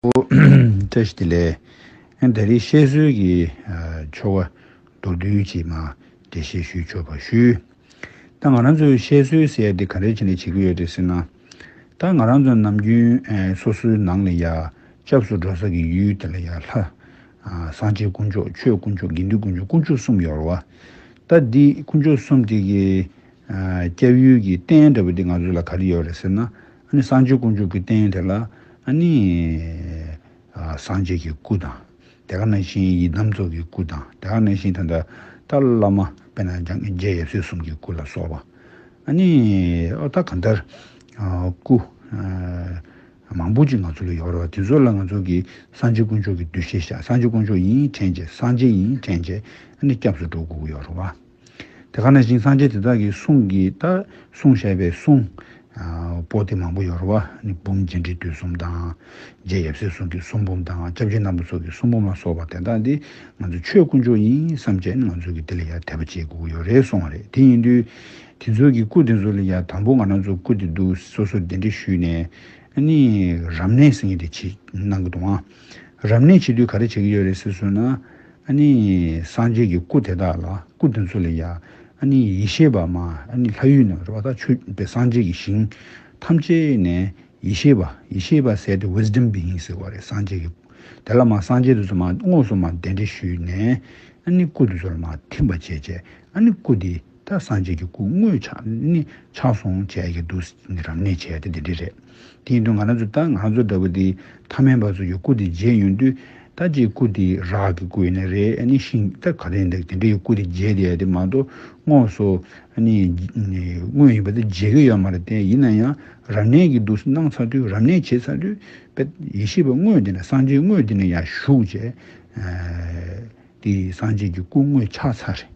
པོ། བཀྲ་ཤིས་བདེ་ལེགས། ཨེ་ད་རེས་བཤད་སྲོལ་གྱི་ཆོ་ག་མདོར་བསྡུས་ཅིག་མ་འདྲེ་བཤད་ཞུས་ཆོག་པ་ཞུ། ད་ང་རང་ཚོས་བཤད་སྲོལ་ཟེར་དེ་ག་རེ་བྱེད་ནས་བྱེད་ཀྱི་ཡོད་རེད་ཟེར་ན། ད་ང་རང་ཚོ་ནམ་རྒྱུན་སོ་སོའི་ནང་ལ་ཡ་སྐྱབས་སུ་འགྲོ་ས་ཀྱི་ཡུལ་དེ་ལ་ཡ་ལྷ། སངས་རྒྱས་དཀོན་མཆོག་ཆོས་དཀོན་མཆོག་དགེ་འདུན་དཀོན་མཆོག་དཀོན་མཆོག་གསུམ་ཡོད་རེད་བ། ད་འདི་དཀོན་མཆོག་གསུམ་དེ་གི་སྐྱབས་ཡུལ་གྱི་རྟེན་འདྲ་བོ་འདི་ང་ཚོ་ལ་ག་རེ་ཡོད་རེད་ཟེར་ན། ཨཱ་ནི་བསང་མཆོད་དཀོན་མཆོག་གི་རྟེན་དེ་ལ་ཨཱ་ནི། སངས་རྒྱས་ཀྱི་སྐུ་དང། དེ་ག་ནང་བཞིན་ཡི་དམ་ཚོགས་ཀྱི་སྐུ་དང་དེ་ག་ནང་བཞིན་ད་ལྟ་ཏཱ་ལ་བླ་མ་དཔལ་ནཱ་རྒྱལ་ཡབ་སྲས་གསུམ་གྱི་སྐུ་ལ་སོགས་པ། ཨཱ་ནི། ཨོ་ད་ག་མཐར། སྐུ། མང་པོ་ཅིག་ང་ཚོ་ལ་ཡོད་རེད་བ་དེ་ཚོ་ལ་ང་ཚོ་གིས་སངས་རྒྱས་དཀོན་མཆོག་གི་གདུལ་བྱའི་ཞག་སངས་རྒྱས་དཀོན་མཆོག་ཡིན་དྲན་བྱས་སངས་རྒྱས་ཡིན་དྲན་བྱས་ཨཱ་ནི་སྐྱབས་སུ་འགྲོ་དགོས་ཀྱི་ཡོད་རེད་བ། དེ་ག་ནས་བཞིན་སངས་རྒྱས་དེ་དག་གི་གསུང་གི་ལྟ་གསུང་ཞེས་པའི་གསུང། པོ་ཏི་མང་པོ་ཡོར་བ་ནི་འབུམ་རྗེས་འབྲེལ་དུས་གསུམ་དང། རྗེ་ཡབ་སྲས་གསུང་གི་གསུང་འབུམ་དང་སྐྱབས་རྗེ་རྣམ་པ་སོགས་ཀྱི་གསུང་འབུམ་ལ་སོགས་པ་དེ་དག་འདི་ང་ཚོ་ཆོས་དཀོན་མཆོག་ཡིན་བསམ་བྱས་ནས་ང་ཚོ་གི་དེ་ལ་ཡར་དད་པ་བྱེད་དགོས་ཡོ་རེད་སོང་བ་རེད་དེ་ཡིན་དུས་དེ་ཚོ་གི་སྐུ་དེ་ཚོ་ལ་ཡར་དང་པོ་ང་རང་ཚོ་སྐུ་དེ་འདུག་སོ་སོ་དེ་འདྲ་ཞུས་ནས་ནི་རབ་གནས་ཟེར་ངེས་དེ་བྱེད་གནང་གི་འདུག་ཨང། རབ་གནས་བྱེད་དུས་ག་རེ་བྱེད་ཀྱི་ཡོད་རེད་ཟེར་སྲོལ་ན། ཨཱ་ནི། སངས་རྒྱས་ཀྱི་སྐུ་དེ་དག་ལ་སྐུ་དེ་ཚོ་ལ་ཡང། ཨཱ་ནི་ཡེ་ཤེས་པ་མ་ཨཱ་ནི་ལྷ་ཡུལ་ན་རེ་བ་ད་ཆོས་པའི་སངས་རྒྱས་ཀྱི་ཞིང། ཐམས་ཅད་ནས་ཡེ་ཤེས་པ་ཡེ་ཤེས་པ་ཟེར་ཏེ Wisdom Being ཟེར་བ་རེད་སངས་རྒྱས་ཀྱི་སྐུ། དེ་ལ་མ་སངས་རྒྱས་དེ་ཚོ་མ་དངོས་སུ་མ་གདན་འདྲེན་ཞུས་ནས། ཨཱ་ནི་སྐུ་དེ་ཚོ་ལ་མ་ཐིམ་པ་བྱས་བྱས་ཨཱ་ནི་སྐུ་དེ། ད་སངས་རྒྱས་ཀྱི་སྐུ་དངོས་ཕྱག་ཟུང་བཅས་ཀྱི་འདུག་རབ་གནས་བྱས་ཏེ་དེ་འདྲས་རེད། དེའི་དོན་ང་རང་ཚོས་ད་ང་ཚོ་འདྲ་བོ་དེ་ཐ་མལ་པ་ཚོ་ཡོད་སྐུ་དེ་བརྗེད་ཡོང་དུས་ད་ཅིའི་སྐུ་དེ་རག་གི་སྐུ་ཡིན་ན་རེད་ནི་ཤིང་རྟ་ག་རེ་འདུག་དེ་འདྲ་ཡོད་སྐུ་དེ་བརྗེད་དེ་ཡོད་དེ་མ་གཏོགས་དངོས་སུ་དངོས་ཡིན་པ་དེ་བརྗེད་ཀྱི་ཡོད་མ་རེད་དེ་ཡིན་ན་ཡང་རབ་གནས་ཀྱི་འདུག་གནང་ཚར་དུས་རབ་གནས་བྱས་ཚར་དུས་དཔེ་ཡེ་ཤེས་པ་དངོས་དེ་ནས་སངས་རྒྱས་དངོས་དེ་ནས་ཡང་བཞུགས་བྱས། འདི་སངས་རྒྱས་ཀྱི་སྐུ་དངོས་ཆགས་ཚར་རེད།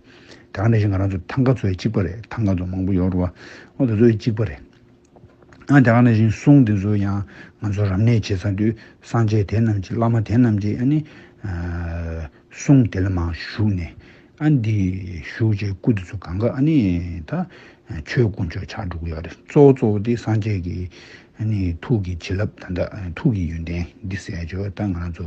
དེ་ག་ནས་ཤི་ང་རང་ཚོ་ཐང་ག་ཚོའི་གཅིག་པ་རེད་ཐང་ག་ཚོ་མང་པོ་ཡོག་རུ་བ་ཨོ་དེ་ཚོའི་གཅིག་པ་རེད། ཨ་དེ་ག་ནས་ཤི་སོང་དེ་ཚོ་ཡང་ང་ཚོ་རབ་གནས་བྱེད་ཚར་དུས་སངས་རྒྱས་དེ་རྣམས་ཀྱི་བླ་མ་དེ་རྣམས་ཀྱི་ཨ་ནི་གསུང་དེ་ལ་མ་ཞུགས་ནས་ཨ་འདི་ཞུགས་རྗེས་སྐུ་དེ་ཚོ་གང་ག་ཨ་ནི་ད་ཆོས་སྐུ་མཆོག་ཆགས་འགྲོ་གི་ཡོག་རེད་གཙོ་བོ་གཙོ་བོ་དེ་སངས་རྒྱས་ཀྱི་ཨ་ནི་ཐུགས་ཀྱི་བྱིན་རླབས་ད་ཐུགས་ཀྱི་ཡོན་ཏན་འདི་ཟས་བཅོལ་ད་ང་རང་ཚོ་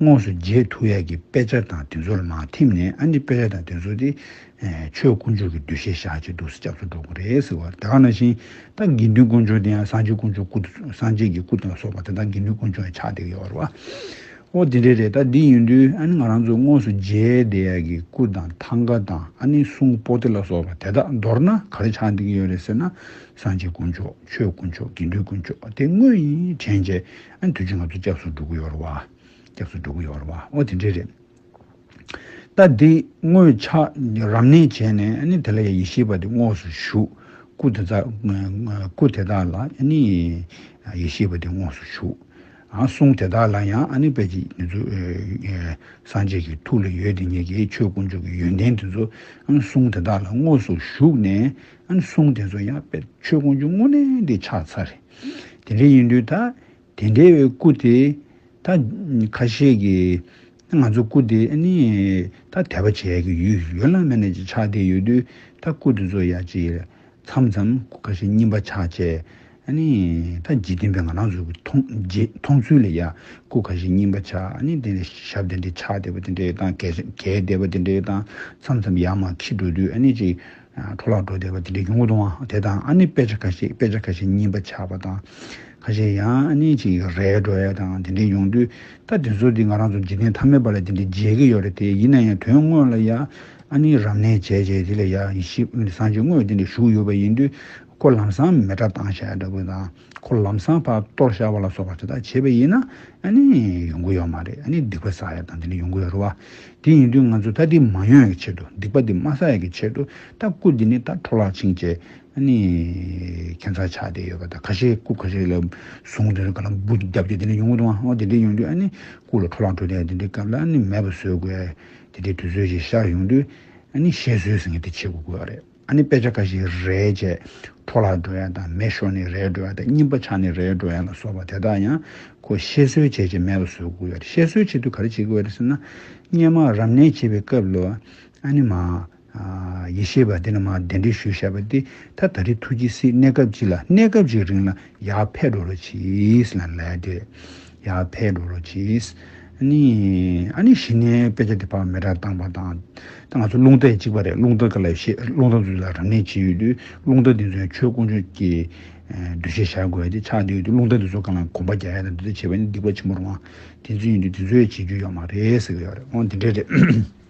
དངོས་སུ་རྗེས་ཐུགས་ཡག་གི་དཔེ་ཆ་དང་དེ་ཚོར་མ་ཐིམ་ནས་ཨ་ནི་དཔེ་ཆ་དང་དེ་ཚོ་དེ་ཆོས་དཀོན་མཆོག་གི་འདུ་ཤེས་བཞག་ཅིག་འདུག་ས་སྐྱབས་སུ་འགྲོ་དགོས་རེད་ཟེར་བ་དེ་ག་ནང་བཞིན་ད་དགེ་འདུན་དཀོན་མཆོག་དེ་ཡང་སངས་རྒྱས་དཀོན་མཆོག་སྐུ་སངས་རྒྱས་ཀྱི་སྐུ་དང་སོགས་པ་དེ་དག་དགེ་འདུན་དཀོན་མཆོག་ཡང་ཆགས་བསྡད་ཀྱི་ཡོད་རེད་བ། ཨོ་དེ་འདྲས་རེད་ད་དེ་ཡིན་དུས་ཨ་ནི་ང་རང་ཚོས་དངོས་སུ་རྗེ་དེ་ཡག་གི་སྐུ་དང་ཐང་ཀ་དང་ཨ་ནི་སུང་པོ་ཏི་ལ་སོགས་པ་དེ་དག་མདོར་ན་ག་རེ་ཆགས་བསྡད་ཀྱི་ཡོད་རེད་ཟེར་ན་སངས་རྒྱས་དཀོན་མཆོག་ཆོས་དཀོན་མཆོག་དགེ་འདུན་དཀོན་མཆོག་དེ་དངོས་ཡིན་དྲན་བྱས་ཨ་འདུལ་གྱིས་ང་ཚོ་སྐྱབས་སུ་འགྲོ་གི་ཡོད་རེད་བ། སྐྱབས་སུ་འགྲོ་གི་ཡོད་རེད་བ། ཨོ་དེ་འདྲས་རེད། ད་འདི་དངོས་ཕྱག་རབ་གནས་བྱས་ནས་ནི་དེ་ལ་ཡང་ཡེ་ཤེས་པ་དེ་དངོས་སུ་བཞུགས། སྐུ་དེ་དག་སྐུ་དེ་དག་ལ་ནི་ཡེ་ཤེས་པ་དེ་དངོས་སུ་བཞུགས། གསུང་དེ་དག་ལ་ཡང་ནི་དཔལ་གྱི་ནི་ཚུལ་སངས་རྒྱས་ཀྱི་ཐུགས་ལ་ཡོད་དེ་ཉིད་ཀྱི་ཆོས་དཀོན་མཆོག་གི་ཡོན་ཏན་དེ་ཚོ་གསུང་དེ་དག་ལ་དངོས་སུ་བཞུགས་ནས་གསུང་དེ་ཚོ་ཡང་དཔལ་ཆོས་དཀོན་མཆོག་དངོས་གནས་དེ་ཕྱག་འཚལ། དེ་འདྲ་ཡིན་དུས་ད་དེ་འདྲའི་སྐུ་དེ་ད་ཁ་ཤས་ཀྱི་ང་ཚོ་སྐུ་དེ་ནི་ད་དད་པ་བྱས་ཀྱི་ཡོད་ཡོད་ལ་མེད་ན་ཅིག་ཆགས་བསྡད་ཡོད་དུས་ད་སྐུ་དེ་ཚོ་ཡ་ཅིག་མཚམས་མཚམས་སྐུ་ཁ་ཤས་རྙིང་པ་ཆགས་བྱས་ནི་ད་འཇིག་རྟེན་པའི་ང་རང་ཚོ་མཐོང་ཚུལ་ལ་ཡ་སྐུ་ཁ་ཤས་རྙིང་པ་ཆགས་ནི་དེ་འདྲའི་ཞབས་དེ་འདྲའི་ཆགས་བསྡད་པ་དེ་འདྲའི་དང་གས་བསྡད་པ་དེ་འདྲའི་དང་མཚམས་མཚམས་ཡར་མར་ཁྱི་འགྲོ་དུས་ནི་ཅིག། འཕྲོ་བརླག་འགྲོ་བདེ་བ་དེ་འདྲའི་གྱོང་གུད་འདུག་ཨང། དེ་དང་ཨ་ནི་དཔེ་ཆ་ཁ་ཤས་དཔེ་ཆ་ཁ་ཤས་རྙིང་པ་ཆགས་པ་དང། ཁ་ཤས་ཡང་ཨ་ནི་ཅིག་རལ་འགྲོ་ཡ་དང་དེ་འདྲའི་ཡོང་དུས་ད་དེ་ཚོ་དེ་ང་རང་ཚོ་འཇིག་རྟེན་མཐའ་མའི་བར་ལ་དེ་འདྲའི་མཇལ་གྱི་ཡོད་རེད་དེ་ཡིན་ན་ཡང་དོན་དངོས་ལ་ཡ་ཨ་ནི་རབ་གནས་བྱས་བྱས་དེ་ལ་ཡ་ཡིད་ཞིབ་བཟང་སྤྱོད་དངོས་དེ་འདྲ་ཞུགས་ཡོད་པ་ཡིན་དུས་ཁོ་ལམ་སང་མེ་དགྲ་སྟངས་ཤ་ཡ་འདྲ་བོ་དང། འཁོར་ལམ་སྲང་བར་གཏོར་བཤགས་པ་ལ་སོགས་པ་དེ་དག་བྱེད་པ་ཡིན་ན་ནི་ཡོང་གི་ཡོད་མ་རེད་ནི་སྡིག་པ་བསགས་ཡ་དང་དེ་ནི་ཡོང་གི་ཡོད་རེད་བ། དེ་ཡིན་དུས་ང་ཚོས་ད་འདི་མ་ཡོང་ཡག་གི་ཆེད་དུ་སྡིག་པ་འདི་མ་བསགས་ཡག་གི་ཆེད་དུ་ད་སྐུ་འདི་ནི་ད་འཕྲོ་བརླག་ཕྱིན་ཅེས་ནི་ཁྱད་མཚར་ཆགས་བསྡད་ཡོད་པ་དང་ཁ་ཤས་སྐུ་ཁ་ཤས་ལ་བཟུང་དེ་ནི་ག་ལ་འབུ་བརྒྱབ་སྟེ་དེ་ནི་ཡོང་གི་འདུག་ཨང་དེ་འདྲས་ཡོང་དུས་ནི་སྐུ་ལ་འཕྲོ་བརླག་འགྲོ་དེ་འདྲས་སྐབས་ལ་ནི་མེད་པ་བཟོས་དགོས། དེ་འདྲས་དུས་ཚོད་ཅིག་ཤར་ཡོང་དུས་ནི་ཞེས་བཟོས་ཟིན་ངེས་དེ་བྱེད་དགོས་དགོས་རེད། ཨ་ནི་དཔེ་ཆ་འགའ་ཞིག་རའི་རྗེས་འཕྲོ་ལ་འགྲོ་ཡ་དང་མེ་ཤོར་ནས་རའི་འགྲོ་ཡ་དང་རྙིང་པ་ཆགས་ནས་རའི་འགྲོ་ཡ་ལ་སོགས་པ་དེ་དག་ཡང་ཁོ་བཤད་སྲོལ་བྱས་རྗེས་མེ་ལ་བཟོས་དགོས་ཡ་རེད་བཤད་སྲོལ་བྱེད་དུས་ག་རེ་བྱེད་དགོས་ཡ་རེད་ཟེར་ན། སྙན་མ་རབ་གནས་བྱེད་པའི་སྐབས་ལོ་ཨ་ནི་མ། ཡེ་ཤེས་པ་འདི་ལ་མ་གདན་འདྲེན་ཞུ་བཞག་པ་འདི་ད་ད་རེ་ཐུགས་ཀྱི་སྲིད་གནས་སྐབས་གཅིག་ལ་གནས་སྐབས་གཅིག་རིང་ལ་ཡར་ཕེབས་འགྲོ་རུ་ཕྱིས་ལ་ལས་དེ། ཡ་ཕའི་འགྲོ་ལོ་ཅིས། ཨ་ནི། ཨ་ནི་གཞི་ནས་དཔེ་ཆ་འདི་ཕ་མེས་དྲག་བཏང་བ་དང། ད་ང་ཚོ་རླུང་རྟ་ཡི་གཅིག་པ་རེད་རླུང་རྟ་ག་ལ་ཤེས་རླུང་རྟ་འཛུགས་ལ་རང་ནས་བྱེད་ཡོད་དུས་རླུང་རྟ་འདི་ཚོའི་ཆོས་དཀོན་མཆོག་གིས་འདུ་ཤེས་བཞག་དགོས་ཏེ་ཆགས་འདི་ཡོད་དུས་རླུང་རྟ་འདི་ཚོ་གང་ལ་གོམ་པ་རྒྱག་ཡ་དང་འདི་ཚོས་བྱས་པ་ནི་སྡིག་པ་ཆེན་པོ་རུང་བ་དེ་ཚོ་ཡིན་དུས་དེ་ཚོས་བྱེད་རྒྱུ་ཡོད་མ་རེད་ཟེར་གྱི་ཡོད་རེད་ཨོ་དེ་འདྲས་རེད།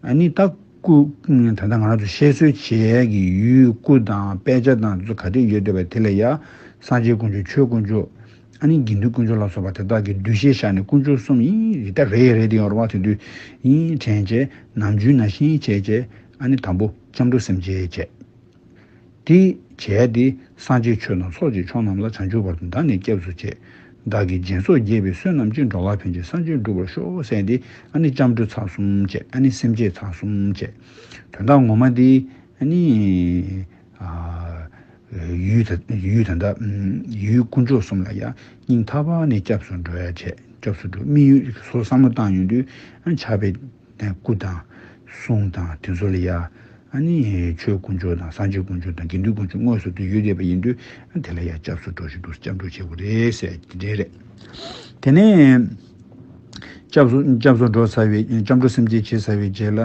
ཨ་ནི་ད་སྐུ། ད་ལྟ་ང་རང་ཚོ་བཤད་སྲོལ་བྱེད་ཀྱི་ཡུལ་སྐུ་དང་དཔེ་ཆ་དང་ཚོ་ག་རེ་ཡོད་འདོད་པ་དེ་ལས་ཡ། སངས་རྒྱས་དཀོན་མཆོག་ཆོས་དཀོན་མཆོག། ཨ་ནི་དགེ་འདུན་དཀོན་མཆོག་ལ་སོགས་པ་དེ་དག་གི་གདུལ་བྱའི་ཞག་ནི་དཀོན་མཆོག་གསུམ་ཡིན་རིག་ད་རེད་རེད་དེ་ཡོར་བ་དེ་དུས་ཡིན་དྲན་བྱེད། ནམ་རྒྱུན་ན་ཤེས་བྱེད་བྱེད། ཨ་ནི་དང་པོ་སྐྱབས་འགྲོ་སེམས་བསྐྱེད་བྱེད། དེ་བྱས་ཏེ་སངས་རྒྱས་ཆོས་དང་ཚོགས་ཀྱི་ཆོས་རྣམས་ལ་བྱང་ཆུབ་བར་དུ་བདག་ནི་སྐྱབས་སུ་བཅས། བདག་གིས་སྦྱིན་སོགས་དགྱེས་པའི་བསོད་ནམས་ཅི་འགྲོ་ལགས་ཕན་ཆད་སངས་རྒྱས་འགྲུབ་པར་ཤོག་བསད་དེ་ཨ་ནི་ལྕམ་དྲུད་ཚགས་གསུམ་བཅས་ཨ་ནི་སེམས་བསྐྱེད་ཚགས་གསུམ་བཅས། དོན་དག་ངོ་མ་དེ་ཨ་ནི། ཡུལ་དང་འདྲ། ཡུལ་དཀོན་མཆོག་གསུམ་ལ་ཡང་སྙིང་ཐག་པ་ནས་སྐྱབས་སུ་འགྲོ་ཡ་བྱས་སྐྱབས་སུ་འགྲོ་སྨིན་ཡུལ་སོ་སམ་མོ་བཏང་ཡོང་དུས་ཨ་ནི་ཆགས་པའི་དང། སྐུ་དང། གསུང་དང་དེ་ཚོ་ལ་ཡ། ཨ་ནི། ཆོས་དཀོན་མཆོག་དང་སངས་རྒྱས་དཀོན་མཆོག་དང་དགེ་འདུན་དཀོན་མཆོག་དངོས་སུ་དེ་ཡོད་བསྡད་པ་ཡིན་དུས་ཨ་དེ་ལ་ཡ་སྐྱབས་སུ་འགྲོ་ཞིག་འདུག་སྐྱབས་འགྲོ་བྱེད་དགོས་རེད་ཟེར་ཡ་དེ་འདྲའི་རེད། དེ་ནས། སྐྱབས་སུ་སྐྱབས་སུ་འགྲོ་ཟེར་བའི་སྐྱབས་འགྲོ་སེམས་བསྐྱེད་བྱེད་ཟེར་བའི་རྗེས་ལ།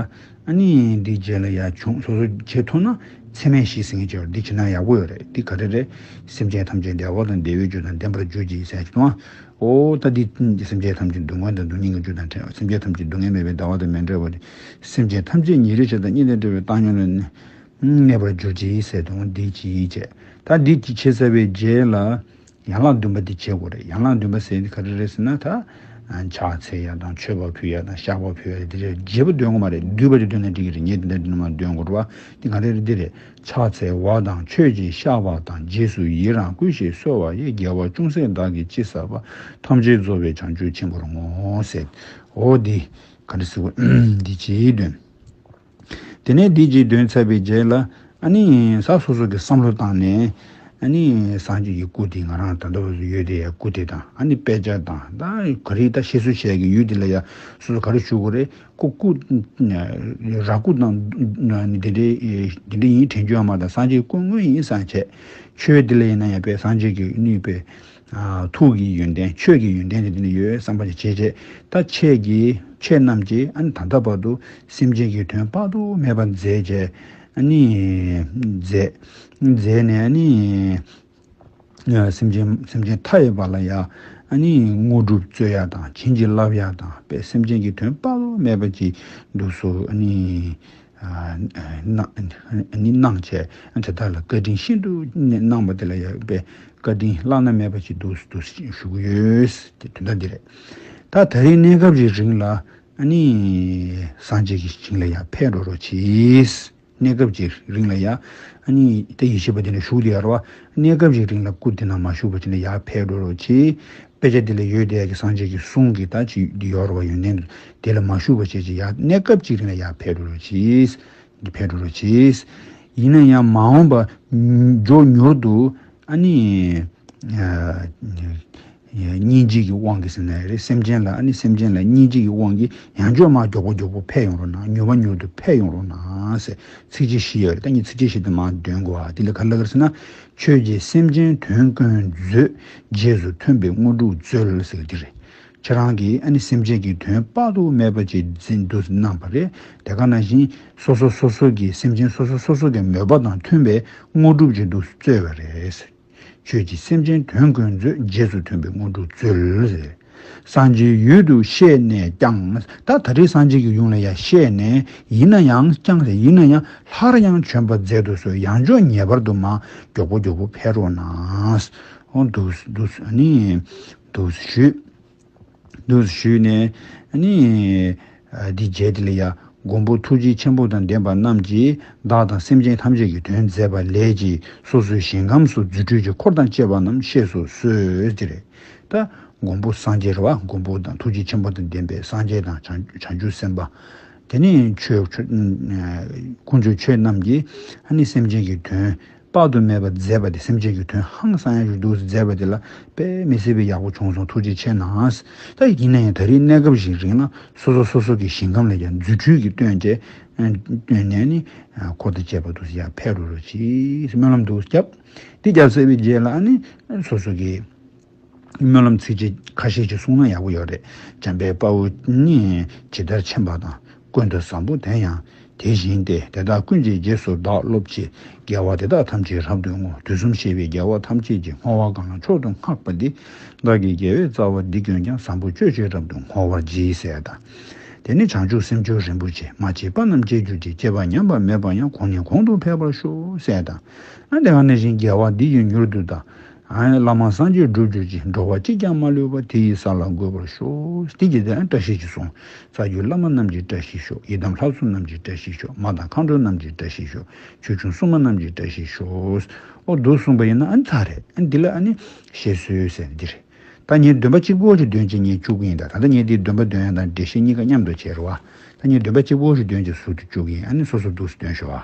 ཨ་ནི། འདི་རྗེས་ལ་ཡ་བྱུང་སོ་སོ་ཁྱེད་ཐུག་ན་ཚད་མས་ཤིག་ཟིན་ཁྱེད་འདི་བྱེད་ན་ཡག་པོ་ཡོད་རེད་འདི་ག་རེ་རེད། སེམས་ཅན་ཐམས་ཅད་བདེ་བ་དང་བདེ་བའི་རྒྱུ་དང་ལྡན་པར་གྱུར་ཅིག་ཟེར་ཡ་ཁྱེད་ཐུག་ན། ཨོ་ད་དེ་ཀུན་གྱི་སེམས་ཅན་ཐམས་ཅད་སྡུག་བསྔལ་དང་སྡུག་སྙིང་གི་རྒྱུ་དང་བྲལ་བ་སེམས་ཅན་ཐམས་ཅད་སྡུག་བསྔལ་མེད་པའི་ཟླ་བ་དང་མེ་འདྲ་བ་ནི་སེམས་ཅན་ཐམས་ཅད་ཉིན་རེ་ཆ་དང་གཉིས་དང་བྲལ་བའི་བཏང་སྙོམས་ལ་གནས་པར་གྱུར་ཅིག་ཟེར་དང་བདེ་སྐྱིད་ཅེས་ད་བདེ་སྐྱིད་ཆེ་ཟེར་བའི་རྗེས་ལ་ཡན་ལག་བདུན་པ་དེ་བྱེད་དགོས་རེད་ཡན་ལག་བདུན་པ་ཟེར་དེ་ག་རེ་རེད་ཟེར་ན་ད་ཕྱག་འཚལ་ཡ་དང་མཆོད་པ་ཕུལ་ཡ་དང་བཤགས་པ་ཕུལ་ཡ་རེད་དེ་རེད་རྒྱས་པ་འདོན་དགོས་མ་རེད་བསྡུས་པ་རེ་འདོན་ན་འགྲིག་གི་རེད་ངས་དེ་འདྲ་འདི་ནང་མ་འདོན་དགོས་རེད་བ་འདི་ག་རེ་རེད་འདི་རེད་ཕྱག་འཚལ་བ་དང་ཆོས་ཀྱིས་བཤགས་པ་དང་རྗེས་སུ་ཡི་རང་བསྐུལ་ཞེས་གསོལ་བ་ཡིས་རྒྱལ་བ་ཅུང་ཟད་བདག་གིས་ཅི་བསགས་པ་ཐམས་ཅད་རྫོགས་པའི་བྱང་ཆུབ་ཆེན་པོར་བསྔོ། ཨོ་འདི་ག་རེ་ཟེར། འདི་སྤྱིའི་དོན། དེ་ནས་འདི་སྤྱིའི་དོན་ཚར་བའི་རྗེས་ལ། ས་སོ་སོ་གི་བསམ་བློ་བཏང་ནས། སངས་རྒྱས་ཀྱི་སྐུ་དེ་ང་རང་ད་ལྟ་བ་སུ་ཡོད་དེ་ཡང་སྐུ་དེ་དང་དཔེ་ཆ་དང། ག་རེ་ད་ཤེས་སུ་བྱས་ཀྱི་ཡུལ་དེ་ལ་ཡང་སོ་སོ་ག་རེ་བཞུགས་གོ་རེ་ཀུ་ཀུ། ར་ཀུ་དང། འདི་འདྲའི་འདི་འདྲའི་ཡིན་དྲན་རྒྱུ་ཡང་མ་དང་སངས་རྒྱས་ཀུན་དངོས་ཡིན་སངས་རྒྱས་ཆོས་འདི་ལས་ཡིན་ན་ཡང་པས་སངས་རྒྱས་ཀྱི་ནུས་པའི། ཐུགས་ཀྱི་ཡོན་ཏན་ཆོས་ཀྱི་ཡོན་ཏན་དེ་འདི་ནས་ཡོད་བསམ་པ་ཅི་བྱེད་བྱེད་ད་ཁྱེད་ཀྱིས་ཁྱེད་རྣམས་ཀྱིས་ཨ་ནི་ད་ལྟ་བར་དུ་སེམས་ཅན་གྱི་དོན་དཔག་ཏུ་མེད་པ་མཛད་བྱས་ཨ་ནི། མཛད། མཛད་ནས་ཨ་ནི། སེམས་ཅན་སེམས་ཅན་མཐའ་ཡས་པ་ལ་ཡང་དངོས་གྲུབ་སྩོལ་ཡ་དང་བྱིན་གྱིས་བརླབས་ཡ་དང་པས་སེམས་ཅན་གྱི་དོན་དཔག་མེད་པ་གྱིས་འདུག་སོ། སྣང་བྱས་དེ་དག་ལ་བཀའ་དྲིན་ཤིན་ཏུ་གནང་བ་དེ་ལ་ཡང་པས་བཀའ་དྲིན་བླ་ན་མེད་པ་གྱིས་འདུག་སོ་ཞུ་གི་ཡོད། དེ་དོན་དག་འདི་རེད། ད་ད་རེས་གནས་སྐབས་རེ་རིང་ལ། སངས་རྒྱས་ཀྱི་ཞིང་ལ་ཡར་འཕེལ་འགྲོ་རོགས་གྱིས། གནས་སྐབས་ཀྱི་རིང་ལ་ཡང། དེ་ཡེ་ཤེས་པ་དེ་ལ་ཞུགས་ཏེ་ཡར་བ། གནས་སྐབས་ཀྱི་རིང་ལ་སྐུ་དེ་ན་མ་ཞུགས་པ་དེ་ལ་ཡར་འཕེལ་འགྲོ་རོ་ཅེས། དཔེ་ཆ་འདི་ལ་ཡོད་བདེ་ཡག་གི་སངས་རྒྱས་ཀྱི་གསུང་གིས་ད་ཅི་འདི་ཡོར་བ་ཡོན་ཏན་དེ་ལ་མ་ཞུགས་པ་བྱས་ཀྱི་ཡར་གནས་སྐབས་ཀྱི་རིང་ལ་ཡར་འཕེལ་འགྲོ་རོ་ཅེས། འདི་འཕེལ་འགྲོ་རོ་ཅེས། ཡིན་ན་ཡང་མ་འོངས་པ། མགྱོགས་མྱུར་དུ། སྙིང་རྗེ་གི་དབང་གིས་ཟེར་ན་ཡག་རེད་སེམས་ཅན་ལ་ཨ་ནི་སེམས་ཅན་ལ་སྙིང་རྗེ་གི་དབང་གིས་ཡང་ཇོ་མ་མགྱོགས་པོ་མགྱོགས་པོ་འཕེལ་ཡོང་རོགས་གནང་མྱུར་བ་མྱུར་དུ་འཕེལ་ཡོང་རོགས་གནང། ཚིགས་བཅད་བཞི་ཡོད་རེད་ད་ངས་ཚིགས་བཅད་བཞི་དང་མང་འདོན་དགོས་ཨ་དེ་ལས་ག་ལ་ག་རེད་ཟེར་ན། ཆོས་རྗེ་སེམས་ཅན་དོན་ཀུན་མཛོད། རྗེས་སུ་མཐུན་པའི་དངོས་གྲུབ་སྩོལ་ཟེར་གྱི་རེད། ཁྱེད་རང་གིས་ཨ་ནི་སེམས་ཅན་གྱི་དོན་དཔག་ཏུ་མེད་པ་ཅིག་འཛིན་དུ་གནང་བ་རེད་དེ་ག་ནང་བཞིན་སོ་སོ་སོ་སོ་གིས་སེམས་ཅན་སོ་སོ་སོ་སོ་གི་མོས་པ་དང་མཐུན་པའི་དངོས་གྲུབ་ཅིག་ཏུ་སྩོལ་བ་རེད། ཁྱོད་ཀྱིས་སེམས་ཅན་དོན་ཀུན་མཛོད་རྗེས་སུ་མཐུན་པའི་དངོས་གྲུབ་སྩོལ། སངས་རྒྱས་ཡུལ་དུ་ཤེས་ནས་ཀྱང་ད་ད་རེས་སངས་རྒྱས་ཀྱི་ཡུམ་ལ་ཡང་ཤེས་ནས་ཡིན་ན་ཡང་ཀྱང་རེ་ཡིན་ན་ཡང་ལྷར་ཡང་བྱོན་པར་མཛད་དུ་གསོལ་ཡང་ཆོག་ངེས་པར་དུ་མ་མགྱོགས་པོ་མགྱོགས་པོ་ཕེབས་རོགས་གནང། འདུག་འདུག་འདུག་ཞུས། དུ་ཞུས་ནས། ནི། འདི་བརྒྱད་དེ་ལ་ཡང་མགོན་པོ་ཐུགས་རྗེ་ཆེན་པོ་དང་ལྡན་པ་རྣམས་ཀྱིས་བདག་དང་སེམས་ཅན་ཐམས་ཅད་ཀྱི་དོན་མཛད་པ་ལས་ཀྱི་སོ་སོའི་ཞིང་ཁམས་སུ་རྫུ་འཕྲུལ་གྱི་འཁོར་དང་བཅས་པ་རྣམས་གཤེགས་སུ་གསོལ་ཏེ། ད་མགོན་པོ་སངས་རྒྱས་ར་བ་མགོན་པོ་དང་ཐུགས་རྗེ་ཆེན་པོ་དང་ལྡན་པའི་སངས་རྒྱས་དང་བྱང་ཆུབ་སེམས་དཔའ། དེ་ནི་ཆོས། དཀོན་མཆོག་ཁྱོད་རྣམས་ཀྱིས་ནི་སེམས་ཅན་གྱི་དོན། དཔག་ཏུ་མེད་པར་མཛད་པ་དེ་སེམས་ཅན་གྱི་དོན་ཧང་སང་ཡང་ཞུ་འདུག་ཟེར་མཛད་པ་དེ་ལ་དཔེ་མི་སྲིད་པས་ཡག་པོ་བྱུང་སོང་ཐུགས་རྗེ་ཆེ་ནང་ད་ཡིན་ན་ཡང་ད་རིས་གནས་སྐབས་ཞིག་རིག་ན་སོ་སོ་སོ་སོ་གི་ཞིང་ཁམས་ལ་ཡང་རྫུ་འཕྲུལ་གྱི་སྟོན་འབྲས་བཏོན་ནས་ནི་འཁོར་དང་བཅས་པ་དུ་ཡར་འཕེལ་རོ་རོ་ཅིག་སྨོན་ལམ་དུ་བརྒྱབ་འདི་བརྒྱབ་ཟེར་བའི་རྗེས་ལ་ནི་སོ་སོ་གི། སྨོན་ལམ་ཚིག་རྗེས་ཁ་ཤས་ཅིག་གསུང་ན་ཡག་པོ་ཡོད་རེད་འཇམ་དཔལ་དཔའ་བོ་ནི་ཇི་ལྟར་ཆེན་པ་དང་ཀུན་ཏུ་བཟང་པོ་དེ་ཡང་དེ་བཞིན་ཏེ་དེ་དག་ཀུན་གྱི་རྗེས་སུ་བདག་སློབ་ཅེས་རྒྱལ་བ་དེ་དག་ཐམས་ཅད་རབ་ཏུ་བསྔོ་དུས་གསུམ་ཤེས་པའི་རྒྱལ་བ་ཐམས་ཅད་ཀྱི་བསྔོ་བ་གང་མཆོག་ཏུ་བསྔགས་པ་འདི་བདག་གི་རྒྱལ་བའི་རྩ་བ་འདི་ཁྱོད་ཀྱང་བཟང་པོ་སྤྱོད་ཅིག་རབ་ཏུ་བསྔོ་བར་བགྱི་ཟེར་དང། དེ་ནས་བྱང་ཆུབ་སེམས་སྦྱོར་རིན་པོ་ཆེ་མ་སྐྱེས་པ་རྣམས་སྐྱེ་གྱུར་ཅིག་སྐྱེས་པ་ཉམས་པ་མེད་པར་ཡང་གོང་ནས་གོང་དུ་འཕེལ་བར་ཤོག་ཟེར་དང། ཡང་དེ་ག་ནས་བཞིན་རྒྱལ་བ་འདི་ཡིས་མྱུར་དུ་བདག། བླ་མ་སངས་རྒྱས་འགྲུབ་གྱུར་ཅིག་འགྲོ་བ་གཅིག་ཀྱང་མ་ལུས་པ་དེ་ཡི་ས་ལ་འགོད་པར་ཤོག། དེ་རྗེས་དེ་བཀྲ་ཤིས་ཀྱི་གསུང། རྩ་རྒྱུད་བླ་མ་རྣམས་ཀྱི་བཀྲ་ཤིས་ཤོག་ཡི་དམ་ལྷ་བཙུན་རྣམས་ཀྱི་བཀྲ་ཤིས་ཤོག་མ་དང་མཁའ་འགྲོ་རྣམས་ཀྱི་བཀྲ་ཤིས་ཤོག་ཆོས་སྐྱོང་སྲུང་མ་རྣམས་ཀྱི་བཀྲ་ཤིས་ཤོག། ཨོ་བསྡུ་གསུངས་པ་ཡིན་ན་ཨ་ཚ་རེད་ཨ་འདི་ལ་ཨ་ནི་བཤད་སྲོལ་ཟེར་འདི་རེད། ད་ངས་འདོན་པ་གཅིག་པོ་ཞིག་འདོན་ཅིག་ངས་བཅུ་གི་ཡིན་ད་ད་ལྟ་ངས་འདིའི་འདོན་པ་འདོན་ཡང་དང་འགྲེལ་བཤད་གཉིས་ཀ་མཉམ་དུ་བྱེད་རོགས་ཨ་ད་ངས་འདོན་པ་གཅིག་པོ་ཞིག་འདོན་ཅིག་ཟུར་དུ་བཅུག་གི་ཡིན་ཨ་ནི་སོ་སོ་འདུག་སུ་འདོན་ཤོག་ཨ།